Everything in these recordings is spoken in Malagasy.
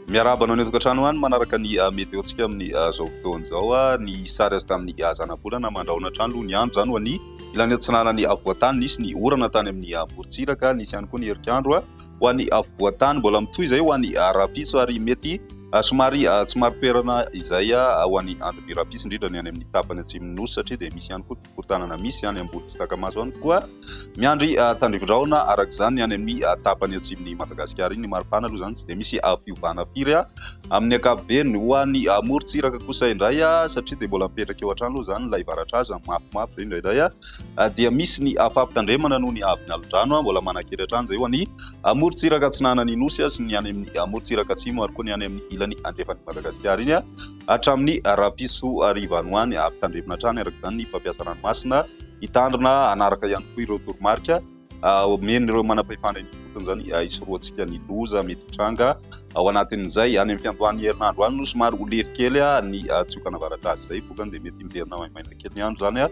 Miarahaba anao ny tokantrano any manaraka ny ah, meteontsika amin'ny ah, zao fotoana izao ah, ny sary azy tamin'ny zanabolana mandrahona hatrany aloha ny andro izany ho an'ny ilany atsinanan'ny voatany nisy ny orana tany amin'ny morontsiraka nisy ihany koa ny herikandro ho an'ny afovoan-tany, mbola mitohy izay ho an'ny rahampitso ary mety somary tsy maro toerana izay ho an'ny andro be rahampitso indrindra ny any amin'ny tapany atsimon'ny nosy satria dia misy ihany koa ny fokontànana misy any ambony tsy taka-maso ihany koa miandry tandrivindraona araka izany ny any amin'ny tapany atsimon'ny Madagasikara iny. Ny maripana aloha izany tsy dia misy fiovana firy amin'ny ankapobeny. Ho an'ny morontsiraka kosa indray satria dia mbola mipetraka eo hatrany aloha izany ilay varatra azy mafimafy indraindray. dia misy ny fampitandremana noho ny avy ny alin-drano mbola manankery hatrany izay ho an'ny morontsiraka atsinanan'ny Nosy sy ny any amin'ny morontsiraka atsimo ary koa ny any amin'ny ilany andrefan'i Madagasikara iny hatramin'ny rahampitso hariva any ho any. Hampitandremana hatrany araka izany ny mpampiasa ranomasina hitandrina hanaraka ihany koa ireo toromarika. Omeny ireo manam-pahefana ifotony izany hisorohantsika ny loza mety hitranga ao anatin'izay. Any amin'ny fiandohan'ny herinandro any no somary ho lefy kely ny tsiokana avaradraritra izay, vokany dia mety miverina maimaina kely ny andro izany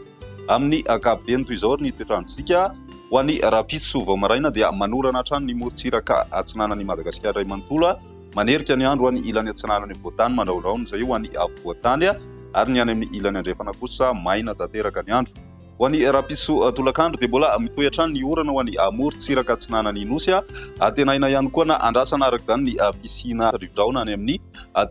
amin'ny ankapobeny. Toy izao ary ny toetr'androntsika ho an'ny rahampitso vao maraina dia manorana hatrany ny morontsiraka atsinanan'i Madagasikara iray manontolo, manerika ny andro ho an'ny ilany atsinanan'ny afovoantany, mandrahondrahona izay ho an'ny afovoantany, ary ny any amin'ny ilany andrefana kosa maina tanteraka ny andro. Ho an'i Rapiso tolakandro dia mbola mitohy hatrany ny orana ho an'i morontsiraka atsinanan'ny Nosy. Antenaina ihany koa na andrasana araka izany ny fisiana rivodraona any amin'ny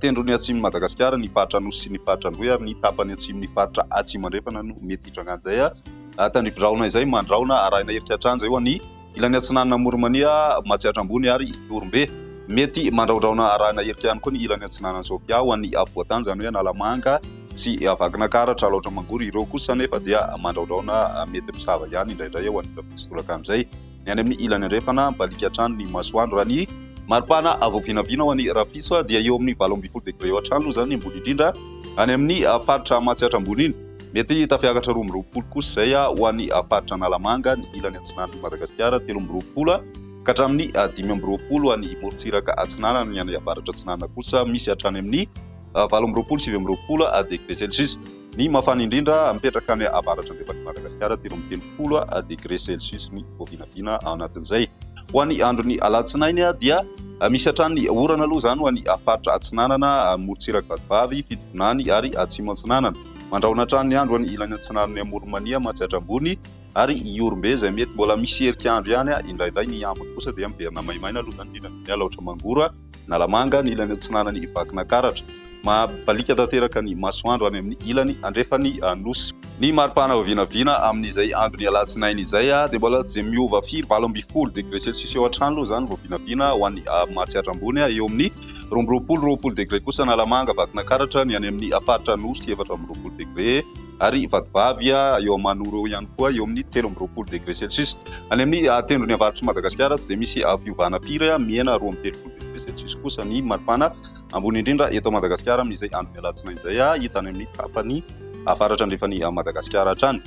tendrony atsimon'i Madagasikara, ny faritra Anosy sy ny faritra Androy ary ny tapany atsimon'ny faritra Atsimo Andrefana no mety hitranga an'izay tandrivodraona izay mandraona arahina heritreritra an'izay ho an'i Ilany Atsinanana Moromania, Matsiatra Ambony ary Ihorombe. Mety mandraodraona arahina hirika ihany koa ny ilany Atsinanana Sofia ho an'ny Afovoan-tany, izany hoe Analamanga sy Vakinankaratra, Alaotra Mangoro. Ireo kosa anefa dia mandraodraona mety misava ihany indraindray ho an'ireo mitsitolaka amin'izay ny any amin'ny ilany andrefana, mibaliaka hatrany ny masoandro. Raha ny. Maripana avo vinavina ho an'i Rapiso dia eo amin'ny valo ambin'ny folo degre hatrany aloha izany ny ambony indrindra any amin'ny faritra Matsiatra Ambony iny. Mety tafiakatra roa amby roapolo kosa izay ho an'ny faritra Analamanga, ny ilany atsinanan'i Madagasikara, telo amby roapolo, ka hatramin'ny dimy amby roapolo any morontsiraka atsinanana, ny any avaratra atsinanana kosa misy hatrany amin'ny valo amby roapolo, sivy amby roapolo degré celsius. Ny mafana indrindra mipetraka any avaratra andrefan'i Madagasikara, telo amby telopolo degré celsius ny vao vinavina ao anatin'izay. Ho an'ny andron'ny alatsinainy dia misy hatrany orana aloha izany ho an'ny faritra atsinanana, morontsiraka vatovavy, fitovonany ary atsimo atsinanana. Mandrahona hatrany ny andro any ilany atsinanan'i Amoronmania, Matsiatra Ambony ary Ihorombe izay mety mbola miserika andro ihany indraindray. Ny ambiny kosa dia miverina maimaina aloha izany indrindra ny Alaotra Mangoro, Analamanga, ny ilany atsinanan'i Vakinakaratra. Mabaliaka tanteraka ny masoandro any amin'ny ilany andrefan'ny Nosy. Ny maripana vao vinavina amin'izay andron'ny alatsinainy izay dia mbola tsy dia miova firy, valo ambin'ny folo degre celsius eo hatrany aloha izany vao vinavina ho an'i Matsiatra Ambony eo amin'ny Roa amby roapolo, roapolo degre kosa Analamanga, Vakinankaratra, ny any amin'ny faritra Anosy efatra amby roapolo degre ary Vatovavy eo Amanoro eo ihany koa eo amin'ny telo amby roapolo degre celsius. Any amin'ny tendrony avaritr'i Madagasikara tsy dia misy fiovana firy, mihena roa amby telopolo degre celsius kosa ny maripana ambony indrindra eto Madagasikara amin'izay andron'ny alatsinainy izay, hita any amin'ny tapany. avaratra andrefan'i Madagasikara hatrany.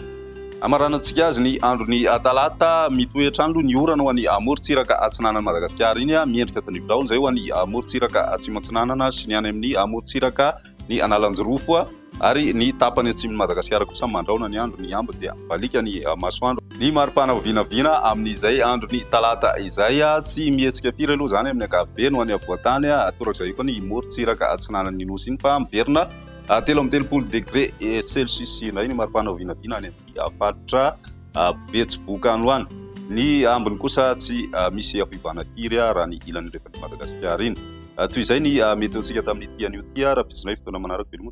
Hamaranantsika azy ny andron'ny talata, mitohy hatrany aloha ny orana ho an'ny morontsiraka atsinanan'i Madagasikara iny, miendrika tandrify daholo izay ho an'ny morontsiraka atsimo atsinanana sy ny any amin'ny morontsiraka ny analanjirofo ary ny tapany atsimon'i Madagasikara kosa mandraona ny andro ny ambiny dia mibaliaka ny masoandro. Ny maripana ho vinavina amin'izay andron'ny talata izay, tsy mihetsika firy aloha izany amin'ny ankapobeny ho any afovoan-tany, torak'izay eo koa ny morontsiraka atsinanan'ny Nosy iny fa miverina. Telo amby telopolo degré celsius indray ny maripana ho vinavina any amin'ny faritra Betsiboka any ho any. Ny ambiny kosa tsy misy fiovana firy raha ny ilany rehefa ny Madagasikara iny. Toy izay ny mety ho antsika tamin'ny ity anio ity raha pitsonay fotoana manaraka veloma.